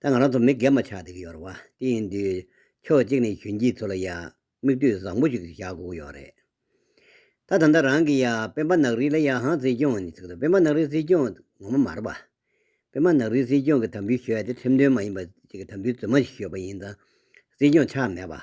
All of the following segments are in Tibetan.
ད་ང་རང་ཚོ་མི་སྒེར་མ་ཆགས་བསྡད་ཀྱི་ཡོད་རེད་བ། དེ་ཡིན་དུས། ཕྱོགས་གཅིག་ནས་གཞོན་སྐྱེས་ཚོ་ལ་ཡང་མིག་ལྟོས་བཟང་པོ་ཞིག་བཞག་དགོས་ཀྱི་ཡོད་རེད། ད་ད་ལྟ་རང་གི་ཡང་སྤེན་པ་ནག་རིལ་ལ་ཡང་ཧང་སྲིད་སྐྱོང་ནི་ཚིག་དོན་སྤེན་པ་ནག་རིལ་སྲིད་སྐྱོང་ངོ་མ་མ་རེད་བ། སྤེན་པ་ནག་རིལ་སྲིད་སྐྱོང་གི་དམ་འབུལ་ཞོལ་དེ་ཁྲིམས་མཐུན་མ་ཡིན་པ་གཅིག་གི་དམ་འབུལ་རྫུན་མ་ཞིག་ཞོལ་བ་ཡིན་ཙང་སྲིད་སྐྱོང་ཆགས་མེད་བ།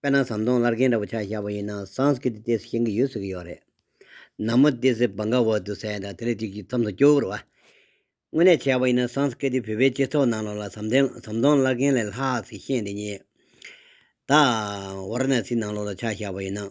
དཔེར་ན་ཟམ་གདོང་ལར་རྒན་འདྲ་བོ་ཆགས་བཞག་པ་ཡིན་ན་སངས་ཀི་ཏི་ཏེ་སི་ཞེན་གི་ཡོད་ཟེར་གི་ཡོད་རེད། ན་མོ་ཏེ་སི་བང་ག་བར་དུ་ཟེར་ཡ་དང་དེ་ལས་ཅིག་ཅིག་མཚམས་སུ་སྐྱོ་བོར་བ། དངོས་གནས་བྱས་པ་ཡིན་ན་སངས་ཀི་ཏི་བོད་པའི་སྤྱི་ཚོགས་ནང་ལོག་ལ་ཟམ་གདན་ཟམ་གདོང་ལར་རྒན་ལས་ལྷག་སི་ཞེན་དེ་ཉིད། ད། བར་ན་སི་ནང་ལོག་ལ་ཆགས་བཞག་པ་ཡིན་ན།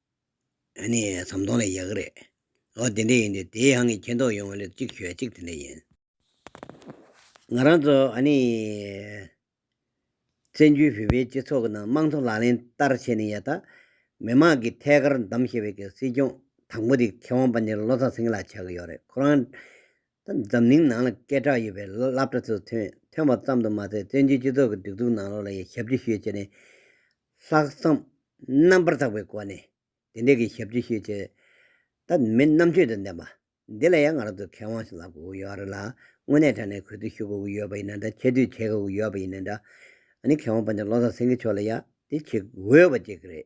ནི་ཟམ་གདོང་ལས་ཡག་གི་རེད། ཨོ་དེ་འདྲས་ཡིན་དུས་དེའི་ཧང་གིས་མཁྱེན་རྟོགས་ཡོང་བ་ལོས་གཅིག་ཞུ་ཡ་གཅིག་དེ་འདྲས་ཡིན། ང་རང་ཚོ་ཨ་ནི། བཙན་བྱོལ་བོད་པའི་སྤྱི་ཚོགས་ཀྱི་ནང་དམངས་གཙོ་ལག་ལེན་བསྟར་བྱས་ནས་ཡ་ད། མི་མང་གིས་ཐད་ཀར་འདམ་ཞེས་པའི་སྲིད་སྐྱོང་དང་པོ་དེ་མཁས་དབང་པ་འདི་ལོ་ཙཱ་སེང་གེ་ལགས་ཆགས་ཀྱི་ཡོད་རེད་ཁོ་རང། འཛམ་གླིང་ནང་ལ་སྐད་གྲགས་ཡོད་པའི་ལོ་ལབ་གྲ་ཚོ་ཐོན་ཐོན་པ་ཙམ་དུ་མ་ཟད་བཙན་བྱོལ་སྤྱི་ཚོགས་ཀྱི་སྒྲིག་འཛུགས་ནང་ལོགས་ལ་ཡང་ཞབས་ཕྱི་ཤོས་བྱས་ནས། ལྷག་བསམ་རྣམ་པར་དག་པའི་སྒོ་ནས་དེ་འདྲའི་གི་ཞབས་ཕྱི་ཤོས་བྱས། ད་མི་རྣམ་དཔྱོད་དང་ལྡན་པ་འདི་ལ་ཡང་ང་རང་ཚོས་ཁས་དབང་ཞིག་ལབ་དགོས་ཀྱི་ཡོད་རེད་ལ་དངོས་གནས་དྲ་གནས་གུས་བཏུད་ཞུ་དགོས་ཀྱི་ཡོད་པ་ཡིན་ན་འདྲ་ཆེ་བསྟོད་བྱེད་དགོས་ཀྱི་ཡོད་པ་ཡིན་ན་འདྲ། ཨ་ནི་ཁས་དབང་པ་ནས་བློ་བཟང་སེང་གེ་མཆོག་ལ་ཡང་དེ་བྱེད་འོས་པ་ཅིག་རེད།